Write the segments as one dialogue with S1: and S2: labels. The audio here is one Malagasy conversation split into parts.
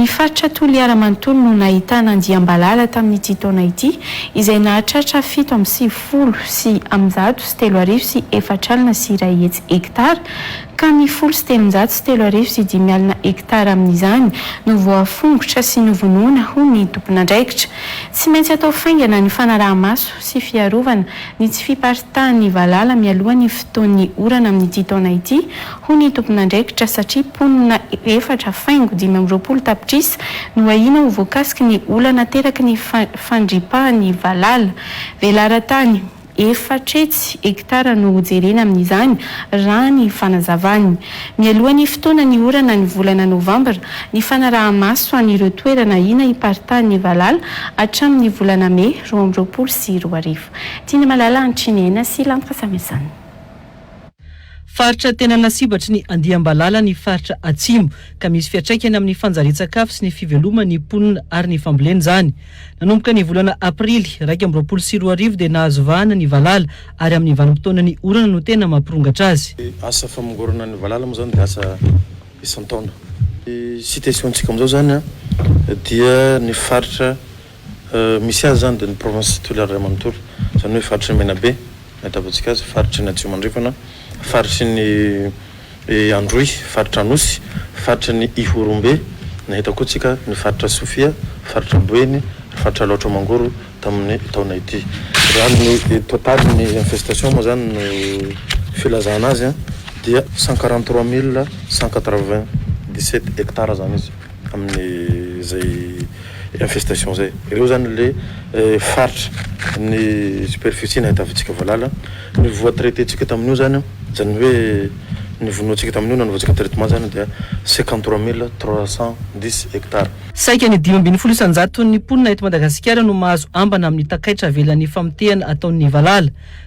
S1: Ny faritra Toliara manontolo no nahitana andiam-balala tamin'ity taona ity, izay nahatratra fito amby sivifolo sy eninjato sy telo arivo sy efatra alina sy iray hetsy hektara, ka ny folo sy telonjato sy telo arivo sy dimy alina hektara amin'izany no voafongotra sy novonoina, hoy ny tompon'andraikitra. Tsy maintsy atao faingana ny fanaraha-maso sy fiarovana ny tsy fiparitahan'ny valala mialoha ny fotoan'ny orana amin'ity taona ity, hoy ny tompon'andraikitra, satria mponina efatra faingo dimy amby roapolo tapitrisa no ahiana ho voakasiky ny olana ateraky ny fandripahan'ny valala. Velaran-tany efatretsy hektara no hojerena amin'izany, raha ny fanazavany. Mialoha ny fotoana ny orana ny volana novambra, ny fanaraha-maso an'ireo toerana ahiana hiparitahan'ny valala hatramin'ny volana mey, roa amby roapolo sy roa arivo. Tian'i Malala Antrinena sy Lanitra Samyazana.
S2: Faritra tena lasibatry ny andiam-balala ny faritra Atsimo, ka misy fiantraikany amin'ny fanjarian-tsakafo sy ny fiveloman'ny mponina ary ny fambolena izany. Nanomboka ny volana Aprily iraika amby roapolo sy roa arivo dia nahazo vahana ny valala ary amin'ny vanim-potoana ny orana no tena mampirongatra azy. Ny asa famongorana
S3: ny valala moa izany dia asa isan-taona. Ny situation-tsika amin'izao izany dia ny faritra Misy azy izany dia ny provinces titulaires iray manontolo, izany hoe faritry ny Menabe, nahitavantsika azy, faritry ny Atsimo Andrefana, faritry ny Androy, faritra Anosy, faritry ny Ihorombe, nahita koa tsika ny faritra Sofia, faritra Boeny, ary faritra Alaotra Mangoro tamin'ny taona ity. Raha ny total ny infestation moa izany no filazana azy dia cent quarante trois mille cent quatre vingt dix sept hectares izany izy. amin'ny izay infestation izay. Ireo izany ilay faritra ny superficie nahitavintsika valala, ny voa traiter-tsika tamin'io izany, izany hoe ny vonointsika tamin'io nanaovantsika traitement izany dia cinquante trois mille trois cent dix hectares. Saika ny dimy ambin'ny
S2: folo isan-jaton'ny mponina eto Madagasikara no mahazo ambana amin'ny takaitra avelan'ny famotehana ataon'ny valala.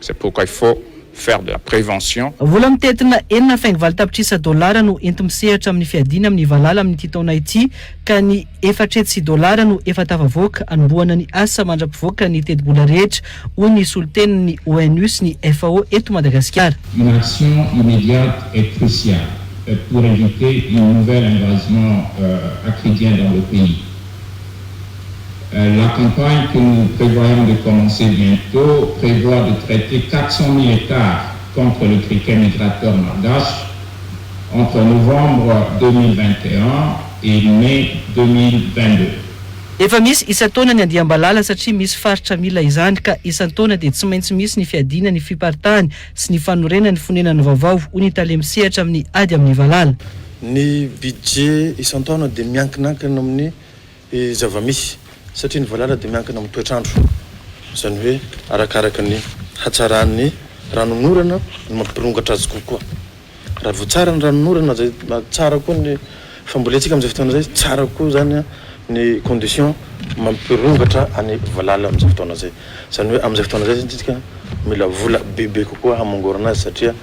S4: C'est pourquoi il faut faire de la prévention. Vola mitentina
S2: enina faingovalo tapitrisa dolara no enti-misehatra amin'ny fiadiana amin'ny valala amin'ity taona ity ka ny efatretsy sy dolara no efa tafavoaka hanombohana ny asa mandra-pivoaka ny tetibola rehetra, hoy ny solontenin'ny ONU sy ny FAO eto Madagasikara. Une action
S5: immediate est cruciale pour éviter une nouvelle invasion acridien dans le pays. La campagne que nous prévoyons de commencer bientot prévoit de traiter quatre cent mille hectares contre le criquet migrateur malgache entre novembre deux mille vingt et un et mai deux mille vingt deux. Efa
S2: misy isan-taona ny andiam-balala satria misy faritra mila izany ka isan-taona dia tsy maintsy misy ny fiadiana ny fiparitahany sy ny fanorenany ny fonenany vaovao, hoy ny tale misehatra amin'ny ady amin'ny valala. Ny
S3: budget isan-taona dia miankinakina amin'ny. Ny zava-misy, satria ny valala dia miankina amin'ny toetr'andro, izany hoe arakaraka ny hatsaran'ny ranonorana no mampirongatra azy kokoa. Raha vao tsara ny ranonorana izay tsara koa ny fambolentsika amin'izay fotoana izay, tsara koa izany ny condition mampirongatra an'i valala amin'izay fotoana izay. Izany hoe amin'izay fotoana izay izany isika mila vola bebe kokoa hamongorana azy satria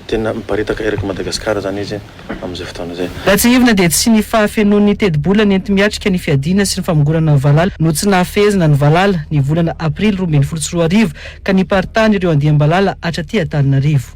S3: tena miparitaka erak'i Madagasikara izany izy. amin'izay fotoana izay. Raha tsiahivina dia tsy ny
S2: fahafenoan'ny tetibola nenti-miatrika ny fiadiana sy ny famongorana ny valala no tsy nahafehezina ny valala ny volana aprily roa ambin'ny folo sy roa arivo ka niparitahan'ireo andiam-balala hatraty Antananarivo.